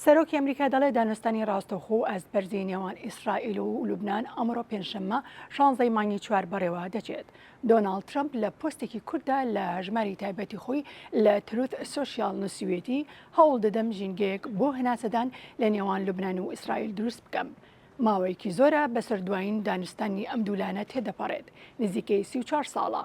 سەرۆکی ئەمریکا دەڵێت دانوستانی ڕاستەوخۆ و ئاستبەرزی نێوان ئیسرائیل و لوبنان ئەمڕۆ پێنجشەممە شانزەی مانگی چوار بەڕێوە دەچێت. دۆناڵد ترەمپ لە پۆستێکی کورتدا لە هەژماری تایبەتی خۆی لە تروث سۆشیال نووسیویەتی هەوڵ دەدەم ژینگەیەک بۆ هەناسەدان لە نێوان لوبنان و ئیسرائیل دروست بکەم. ماوەیەکی زۆرە بەسەر دوایین دانوستانی ئەم دوو لایەنە تێدەپەڕێت، نزیکەی سی و چوار ساڵە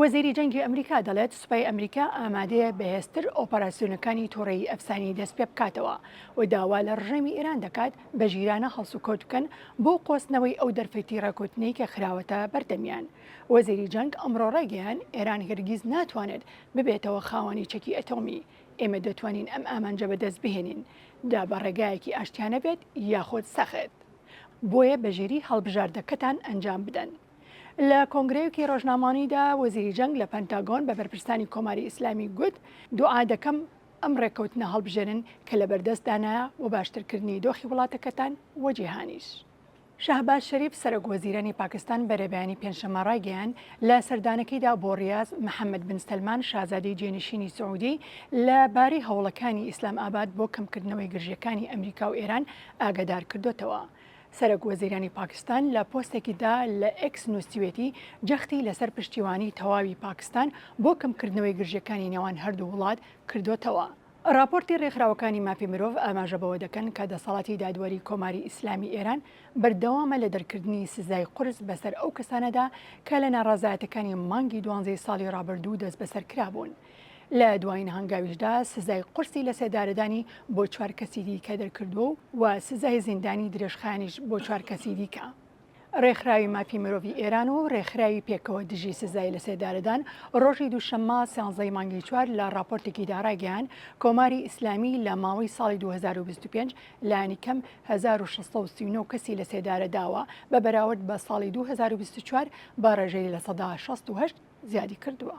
وەزیری جەنگی ئەمریکا دەڵێت سوپای ئەمریکا ئامادەیە بەهێزتر ئۆپەراسیۆنەکانی تۆڕەیی ئەفسانی دەستپێبکاتەوە و داوا لە ڕژێمی ئێران دەکات بە ژیرانە هەڵسوکەوت بکەن بۆ قۆستنەوەی ئەو دەرفەی تیڕە کوتنەی کە خراوەتە بەردەمیان. وەزیری جەنگ ئەمڕۆ ڕایگەیاند ئێران هەرگیز ناتوانێت ببێتەوە خاوەنی چەکی ئەتۆمی، ئێمە دەتوانین ئەم ئامانجە بەدەست بهێنین جا بە ڕێگایەکی ئاشتیانە بێت یاخود سەخت. بۆیە بەژیری هەڵبژاردەکەتان ئەنجام بدەن. لە کۆنگرەیەکی ڕۆژنامانیدا وەزیری جەنگ لە پەنتاگۆن بە بەرپرسانی کۆماری ئیسلامی گوت، دوعا دەکەم ئەم ڕێککەوتنە هەڵبژێرن کە لەبەردەستدانە بۆ باشترکردنی دۆخی وڵاتەکەتان و جیهانیش. شەهباز شەریف، سەرۆک وەزیرانی پاکستان بەرەبەیانی پێنجشەممە ڕایگەیاند، لە سەردانەکەیدا بۆ ڕیاز، محەممەد بن سەلمان، شازادەی جێنشینی سعودی لە بارەی هەوڵەکانی ئیسلام ئاباد بۆ کەمکردنەوەی گرژییەکانی ئەمریکا و ئێران ئاگادارکردۆتەوە. سەرەک وەزیرانی پاکستان لە پۆستێکی دا لە ئێکس نووسیوێتی جەختی لەسەر پشتیوانی تەواوی پاکستان بۆ کەمکردنەوەی گرژیەکانی نێوان هەردوو وڵات کردۆتەوە. ڕاپۆرتی ڕێکخراوەکانی مافی مرۆڤ ئاماژە بەوە دەکەن کە دەسەڵاتی دادوەری کۆماری ئیسلامی ئێران بەردەوامە لە دەرکردنی سزای قورس بەسەر ئەو کەسانەدا کە لە ناڕەزایەتەکانی مانگی دوانزەی ساڵی ڕابردوو دەستبەسەر کرابوون. لە دوایین هەنگاویشدا سزای قورسی لەسێدارەدانی بۆ چوار کەسی دیکە دەرکردووە و سزای زیندانی درێژخایەنیش بۆ چوار کەسی دیکە. ڕێکخراوی مافی مرۆڤی ئێران و ڕێکخراوی پێکەوە دژی سزای لەسێدارەدان ڕۆژی دووشەممە سیانزە ی مانگی چوار لە ڕاپۆرتێکیدا ڕایگەیاند کۆماری ئیسلامی لە ماوەی ساڵی دوو هەزار و بیست و پێنج لانی کەم هەزار و شەش سەد و سی و نۆ کەسی لەسێدارە داوە بە بەراورد بە ساڵی دوو هەزار و بیست و چوار بە ڕێژەی لە سەدا شەست و هەشت زیادی کردووە.